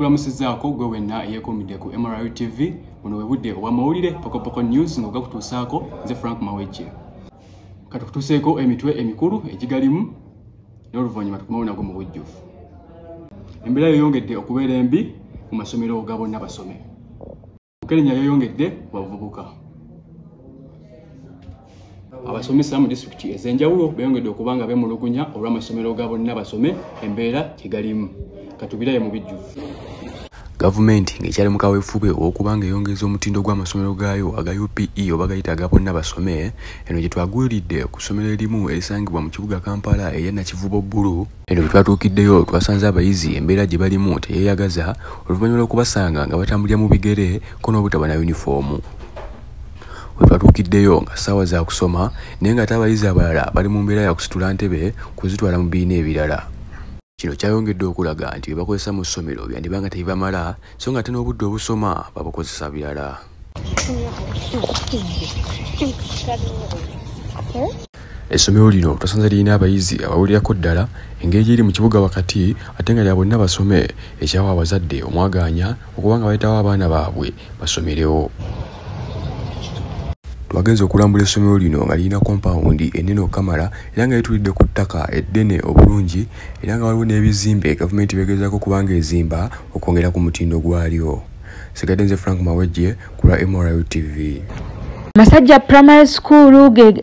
nkulamusizaako gwe wenna eyeekuumidde ku mru tv buno bwe budde obwamawulire pokopoko news nga ogakutuusaako nze frank mawejje katukutuuseeko emitwe emikulu egigalimu n'oluvannyuma tukomewo nago mu bujjuvu embeera yeyongedde okubeera embi mu masomero ga bonna basome mukenenya yeyongedde ku bavubuka abasomesa mu disitulikiti ez'enjawulo beyongedde okuba nga bemulugunya olw'amasomero ga bonna basome embeera gyegalimu katubiraye mu bijjuvu Gavumenti ng'ekyali mu kaweefube ow'okuba ng'eyongeza omutindo gw'amasomero gaayo aga UPE oba gayita aga bonna basome, eno gye twagwiridde ku ssomero erimu erisangibwa mu kibuga Kampala erya Nakivubo Bbulu. Eno bwe twatuukiddeyo twasanze abayizi embeera gye balimu teyeeyagaza oluvannyuma lw'okubasanga nga batambulira mu bigere ko n'obutaba na yunifoomu. We twatuukiddeyo nga ssaawa za kusoma naye ng'ate abayizi abalala bali mu mbeera ya kusitula ntebe kuzitwala mu bibiina ebirala. Kino kyayongedde okulaga nti bye bakozesa mu ssomero byandiba nga tebibamala so nga ate n'obudde obusoma babukozesa birala. Essomero lino twasanze lirina abayizi abawulirako ddala, engeri gy'eri mu kibuga wakati ate nga lya bonna basome ekyawa abazadde omwagaanya okuba nga baleetawo abaana baabwe basomerewo. Twagenze okulambula essomero lino nga lirina kompawundi ennene okukamala era nga litulidde ku ttaka eddene obulungi era nga waliwo n'ebizimbe gavumenti begezaako okuba nga ezimba okwongera ku mutindo gwalyo. Sigadde nze Frank Mawejje ku lwa MRU TV. Masajja Primary School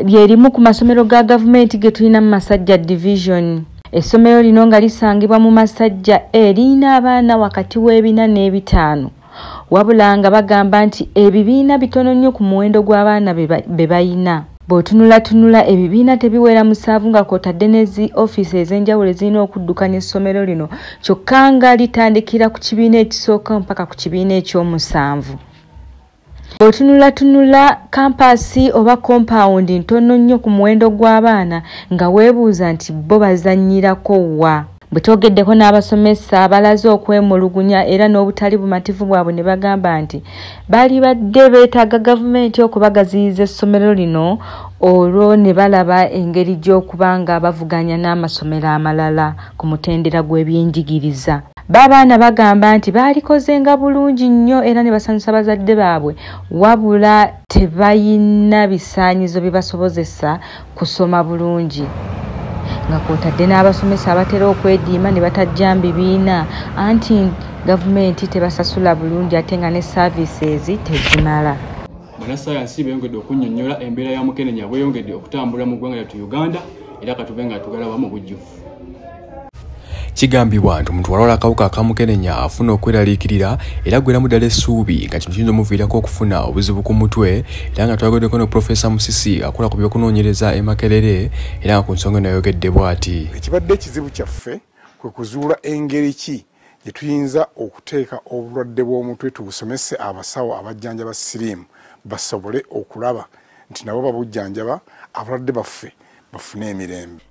lye limu ku masomero ga gavumenti ge tulina mu Masajja Division. Essomero lino nga lisangibwa mu Masajja A e, lirina abaana wakati w'ebina n'ebitaano wabula nga bagamba nti ebibiina bitono nnyo ku muwendo gw'abaana be balina. Bw'otunulatunula ebibiina tebiwera musanvu nga kw'otadde ne zi ofiisi ez'enjawulo ezirina okuddukanya essomero lino kyokka nga litandikira ku kibiina ekisooka mpaka ku kibiina ekyomusanvu. Bw'otunulatunula kampaasi oba kompawundi ntono nnyo ku muwendo gw'abaana nga weebuuza nti bo bazannyirako wa? Bwe twogeddeko n'abasomesa abalaze okwemulugunya era n'obutali bumativu bwabwe ne bagamba nti baalibadde beetaaga gavumenti okubagaziyiza essomero lino olwo ne balaba engeri gy'okuba nga bavuganya n'amasomero amalala ku mutendera gw'ebyenjigiriza. Baabaana bagamba nti baalikozenga bulungi nnyo era ne basanyusa bazadde baabwe wabula tebalina bisaanyizo bibasobozesa kusoma bulungi nga kwotadde n'abasomesa abatera okwediima ne batajja mu bibiina anti gavumenti tebasasula bulungi ate nga ne saaviisezi tezimala banasayansi beyongedde okunnyonnyola embeera ya mukenenya bweyongedde okutambula mu ggwanga lyattu uganda era katube nga tugala wamu bujjuvu kigambibwa nti omuntu walwala akawuka akamukenenya afuna okweraliikirira era gweramu ddala essuubi nga kino kiyinza omuviirako okufuna obuzibu ku mutwe era nga twageddeko ne profesa musisi akola ku byokunoonyereza e makerere era nga ku nsonga eno yayogedde bw'ati ekibadde ekizibu kyaffe kwe kuzuula engeri ki gye tuyinza okuteeka obulwadde bw'omutwe tubusomese abasawo abajjanjaba siriimu basobole okulaba nti nabo babujjanjaba abalwadde baffe bafune emirembe.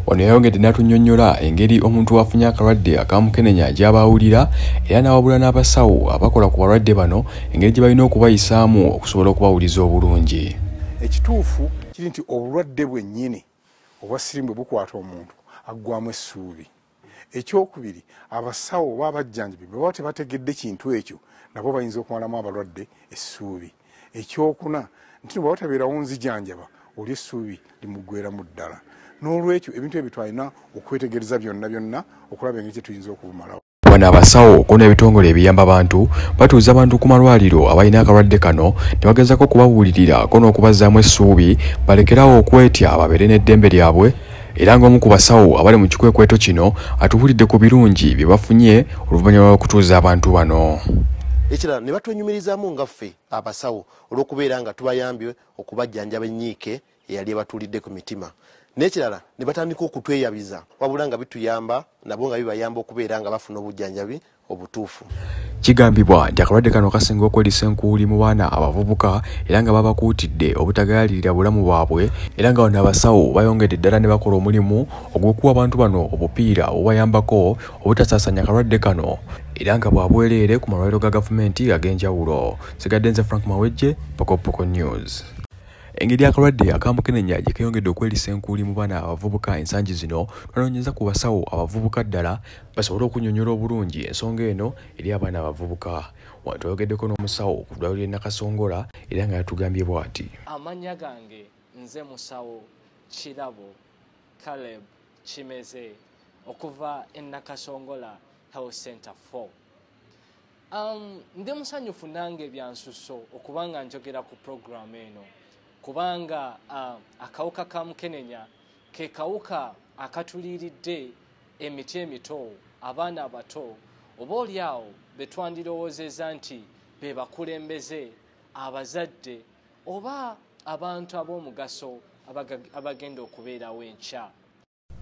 Ono yayongedde n'atunyonyola engeri omuntu wafunye akalwadde akamukenenya gy'aba awulira era n'awabula n'abasawo abakola ku balwadde bano engeri gye balina okubayisaamu okusobola okubawuliza obulungi. Ekituufu kiri nti obulwadde bwennyini obwa siriimu bwe bukwata omuntu aggwamu essuubi. Ekyokubiri, abasawo oba abajjanjabi bwe baba tebategedde kintu ekyo, nabo bayinza okumalamu abalwadde essuubi. Ekyokuna, nti no bw'aba tabeerawo nzijanjaba, oli essuubi limuggweeramu ddala. N'olwekyo, ebintu ebyo twalina okwetegereza byonna byonna okulaba engeri gye tuyinza okubumalawo. Wano abasawo kko n'ebitongole ebiyamba abantu batuuza abantu ku malwaliro abalina akalwadde kano ne bagezaako okubabuulirira kko n'okubazzaamu essuubi balekere awo okwetya babeere n'eddembe lyabwe era ng'omu ku basawo abali mu kikwekweto kino atubuulidde ku birungi bye bafunye oluvannyuma lw'okutuuza abantu bano ekirala ne batwenyumirizaamu nga ffe abasawo olw'okubeera nga tubayambye okubajjanjaba ennyiike eyali ebatuulidde ku mitima n'ekirala ne batandika okutweyabiza wabula nga bituyamba nabo nga bibayamba okubeera nga bafuna obujjanjabi obutuufu. Kigambibwa nti akalwadde kano kasinga okwelisa enkuuli mu baana abavubuka era nga babakuutidde obutagayaalirira bulamu bwabwe era nga wano abasawo bayongedde ddala ne bakola omulimu ogw'okuwa abantu bano obupiira obubayambako obutasaasaanya kalwadde kano era nga bwa bwereere ku malwaliro ga gavumenti ag'enjawulo. Nsigadde nze Frank Mawejje, Pokopoko News. Engeri akalwadde aka mukenenya gye keeyongedde okwelisa enkuuli mu baana abavubuka ensangi zino, twanoonyezza ku basawo abavubuka ddala, basobole okunyonyola obulungi ensonga eno eri abaana abavubuka. Wano twayogeddeko n'omusawo ku ddwaliro ly'e Nakasongola era nga yatugambye bwati. Amannya gange nze musawo Kirabo Caleb Kimeze okuva e Nakasongola Health Center 4. Um, ndi musanyufu nange byansusso okuba nga njogera ku puroguramu eno kubanga uh, akawuka ka mukenenya ke kawuka akatuliiridde emiti emito, abaana abato, oba oli awo be twandirowoozezza nti be bakulembeze, abazadde, oba abantu ab'omugaso abagenda okubeerawo enkya.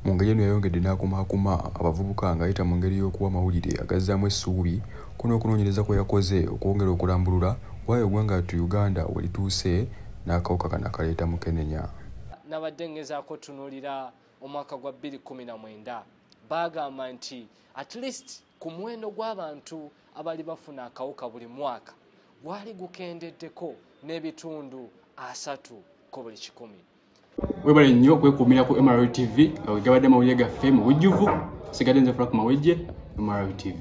Mu ngeri eno yayongedde n'akumaakuma abavubuka ng'ayita mu ngeri y'okuwa amawulire agazzaamu essuubi. Kuno okunoonyereza kwe yakoze okwongera okulambulula why ogwanga yattu Uganda we lituuse n'akawuka kano akaleeta mukenenya. Nabadde ngezaako tunuulira omwaka gwa 2019 baagamba nti at least ku muwendo gw'abantu abali bafuna akawuka buli mwaka gwali gukendeddeko n'ebitundu asatu ku buli kikumi webale nnyo okwekuumira ku mrl tv nga wegabadde amawulire gaffe mu bujjuvu sigadde nze frank mawejje mrl tv